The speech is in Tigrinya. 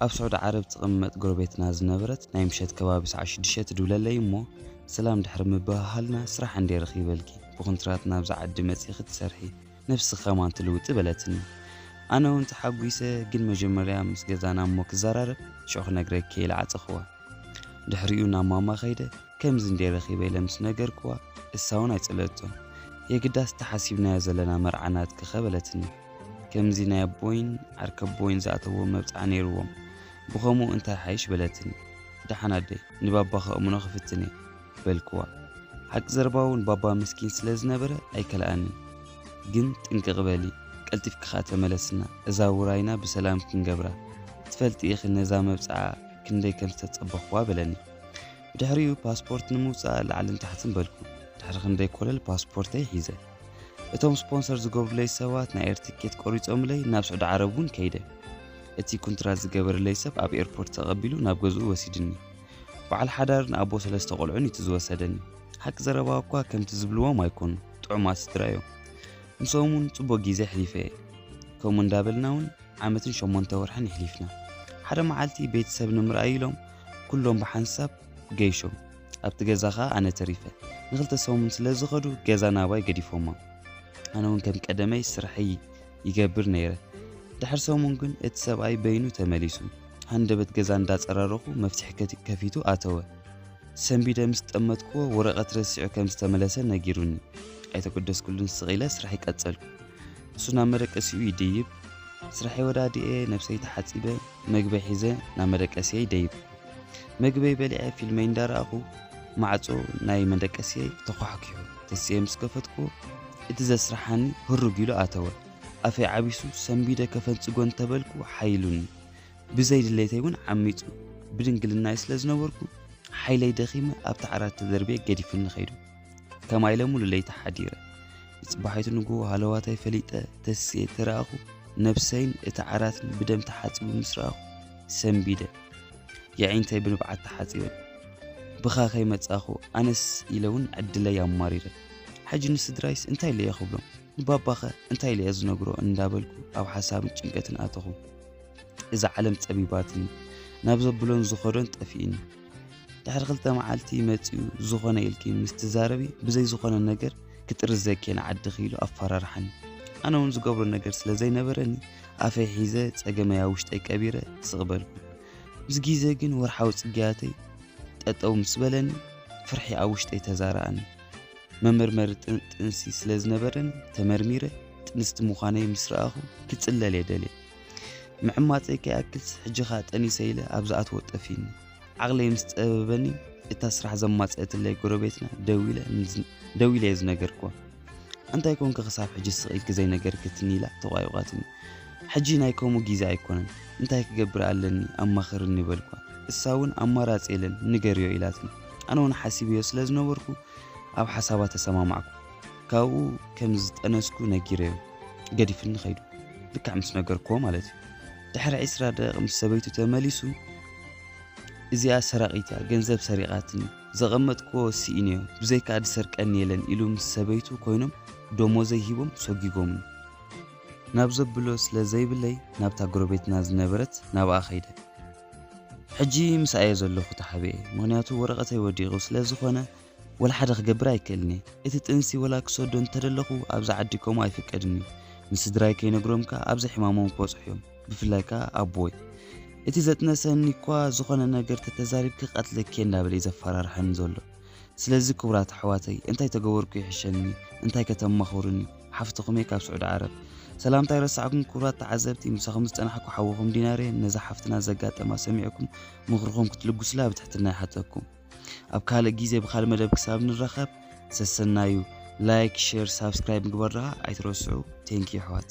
ኣብ ስዑዲ ዓረብ ትቕመጥ ጎረቤትና ዝነበረት ናይ ምሸት ከባቢ ሰዓ ሽዱሽተ ትድብለለይ እሞ ሰላም ድሕሪ ምብህሃልና ስራሕ እንዴ ረኺበልኪ ብኹንትራት ናብዛ ዓዲ መጺኺ ትሰርሒ ነብስኺ ከማን ትልውጢ በለትኒ ኣነ እውን ተሓጒሰ ግን መጀመርያ ምስ ገዛና እሞ ክዘራረብ ሽዑ ክነግረኪ ኢለ ዓጸኽዋ ድሕሪኡ ናብ ማማ ከይደ ከምዚ እንዴ ረኺበ ኢለ ምስ ነገርክዋ እሳ እውን ኣይጸለቶን የግዳስ ተሓሲብናዮ ዘለና መርዓ ናትኪ ከ በለትኒ ከምዚ ናይ ኣቦይን ዓርከቦይን ዝኣተዎ መብጽዓ ነይርዎም ብኸምኡ እንታይ ሓይሽ በለትኒ ደሓን ኣደይ ንባባ ከእምኖ ክፍትን እየ በልክዋ ሓቂ ዘረባ እውን ባባ ምስኪን ስለ ዝነበረ ኣይከልኣንን ግን ጥንቅቕ በሊ ቀልጢፍኪ ከኣ ተመለስና እዛ ውራይና ብሰላም ክንገብራ ትፈልጢ ኢኺ ነዛ መብጽዓ ክንደይ ከም ዝተጸበኽዋ በለኒ ብድሕሪኡ ፓስፖርት ንምውጻእ ላዕልን ታሕትን በልኩ ድሕሪ ክንደይ ኮለል ፓስፖርተይ ሒዘ እቶም ስፖንሰር ዝገብሩለይ ሰባት ናይ ኤር ትኬት ቆሪጾምለይ ናብ ስዑዲ ዓረብ እውን ከይደ እቲ ኩንትራት ዝገበረለይ ሰብ ኣብ ኤርፖርት ተቐቢሉ ናብ ገዝኡ ወሲድኒ በዓል ሓዳርን ኣቦ ሰለስተ ቆልዑን እቲ ዝወሰደኒ ሓቂ ዘረባ እኳ ከምቲ ዝብልዎም ኣይኮኑ ጥዑማት ስድራ እዮም ምስኦም እውን ጽቡቕ ግዜ ኣሕሊፈ እየ ከምኡ እንዳበልና እውን ዓመትን ሸሞንተ ወርሕን ይሕሊፍና ሓደ መዓልቲ ቤተሰብ ንምርኣይ ኢሎም ኩሎም ብሓንሳብ ገይሾም ኣብቲ ገዛ ከኣ ኣነ ተሪፈ። ንክልተ ሰሙን ስለ ዝኸዱ ገዛ ናባይ ገዲፎማ። ኣነ ውን ከም ቀደመይ ስርሐይ ይገብር ነይረ። ድሕሪ ሰሙን ግን እቲ ሰብኣይ በይኑ ተመሊሱ። ሃንደበት ገዛ እንዳጸራረኹ መፍትሒ ከፊቱ ኣተወ። ሰንቢደ ምስ ጠመትክዎ ወረቐት ረሲዑ ከም ዝተመለሰ ነጊሩኒ። ኣይተገደስኩሉን ስቕ ኢለ ስርሐይ ቀጸልኩ። እሱ ናብ መደቀሲኡ ይድይብ። ስርሐይ ወዳዲኤ ነብሰይ ተሓጺበ መግበይ ሒዘ ናብ መደቀሲየይ ደይብ። መግበይ በሊዐ ፊልመይ እንዳረኣኹ ማዕፆ ናይ መደቀስየይ ተኳሕኪሑ ተሲኤ ምስ ከፈትኩዎ እቲ ዘስርሓኒ ህሩግ ኢሉ ኣተወ ኣፈይ ዓቢሱ ሰንቢደ ከፈንፅጎ እንተበልኩ ሓይሉኒ ብዘይ ድሌተይ እውን ዓሚፁ ብድንግልናይ ስለ ዝነበርኩ ሓይለይ ደኺመ ኣብቲ ዓራት ተደርብየ ገዲፉኒ ኸይዱ ከማይ ኢለ ሙሉ ለይቲ ሓዲረ ንፅባሒቱ ንግሆ ሃለዋታይ ፈሊጠ ተስየ ተረኣኹ ነብሰይን እቲ ዓራትን ብደም ተሓፂቡ ምስ ረኣኹ ሰንቢደ የዒንተይ ብንብዓት ተሓጺበ ብኻ ከይመጻኹ ኣነስ ኢለ እውን ዕድለይ ኣማሪረ ሕጂ ንስድራይስ እንታይ ኢለየ ክብሎም ንባባኸ እንታይ ኢለየ ዝነግሮ እንዳበልኩ ኣብ ሓሳብን ጭንቀትን ኣተኹ እዛ ዓለም ጸቢባትኒ ናብ ዘብሎን ዝኸዶን ጠፊእኒ ድሕሪ ክልተ መዓልቲ መፂኡ ዝኾነ ኢልኪ ምስ ትዛረቢ ብዘይ ዝኾነ ነገር ክጥርዘኪ ንዓድኺ ኢሉ ኣፈራርሓኒ ኣነ እውን ዝገብሮ ነገር ስለ ዘይነበረኒ ኣፈይ ሒዘ ፀገመይ ኣብ ውሽጠይ ቀቢረ ስቕ በልኩ ምስ ግዜ ግን ወርሓዊ ፅግያተይ ጠጠው ምስ በለኒ ፍርሒ ኣብ ውሽጠይ ተዛረኣኒ መመርመሪ ጥንሲ ስለ ዝነበረኒ ተመርሚረ ጥንስቲ ምዃነይ ምስ ረኣኹ ክፅለል የደልየ ምዕማፀይ ከይኣክልስ ሕጂ ከኣ ጠኒሰ ኢለ ኣብ ዝኣትዎ ጠፊኒ ዓቕለይ ምስ ፀበበኒ እታ ስራሕ ዘማፀአትለይ ጎረቤትና ደው ኢለ እየ ዝነገርክዋ እንታይ ኮንኪ ክሳብ ሕጂ ስቕ ኢልኪ ዘይነገርክትኒ ኢላ ተቋይቋትኒ ሕጂ ናይ ከምኡ ግዜ ኣይኮነን እንታይ ክገብር ኣለኒ ኣማኽርኒ በልኳ እሳ እውን ኣማራፂ የለን ንገርዮ ኢላትኒ ኣነ እውን ሓሲብዮ ስለ ዝነበርኩ ኣብ ሓሳባ ተሰማማዕኩ ካብኡ ከም ዝጠነስኩ ነጊረዮ ገዲፍኒ ከይዱ ልክዕ ምስ ነገርክዎ ማለት እዩ ድሕሪ ዕስራ ደቂቕ ምስ ሰበይቱ ተመሊሱ እዚኣ ሰራቒት እያ ገንዘብ ሰሪቓትኒ ዘቐመጥክዎ ስኢንዮ ብዘይካ ዝሰርቀኒ የለን ኢሉ ምስ ሰበይቱ ኮይኖም ደሞዘይ ሂቦም ሰጒጎምኒ ናብ ዘብሎ ስለ ዘይብለይ ናብታ ጎረቤትና ዝነበረት ናብኣ ከይደ ሕጂ ምስኣየ ዘለኹ ተሓቢኤ ምክንያቱ ወረቐተይ ወዲቑ ስለ ዝኾነ ወላ ሓደ ክገብር ኣይክእልን እየ እቲ ጥንሲ ወላ ክሰዶ እንተደለኹ ኣብዚ ዓዲ ከምኡ ኣይፍቀድን እዩ ንስድራይ ከይነግሮም ከኣ ኣብዚ ሕማሞም ክበጽሑ እዮም ብፍላይ ከኣ ኣቦይ እቲ ዘጥነሰኒ እኳ ዝኾነ ነገር ተተዛሪብኪ ክቀትለኪ እየ እንዳበለ እዩ ዘፈራርሐኒ ዘሎ ስለዚ ክቡራት ኣሕዋተይ እንታይ ተገበርኩ ይሕሸኒ እንታይ ከተማኽሩኒ ሓፍትኹም እየ ካብ ስዑዲ ዓረብ ሰላምታ ይረሳዕኩም ክቡራት ተዓዘብቲ ምሳኹም ዝጸናሕኩ ሓውኹም ዲናር እየ ነዛ ሓፍትና ዘጋጠማ ሰሚዕኩም ምኽርኹም ክትልግሱላ ብትሕትና ይሓተኩም ኣብ ካልእ ግዜ ብካልእ መደብ ክሳብ ንራኸብ ሰሰናዩ ላይክ ሼር ሳብስክራይብ ምግባር ድኣ ኣይትረስዑ ቴንኪ ኣሕዋት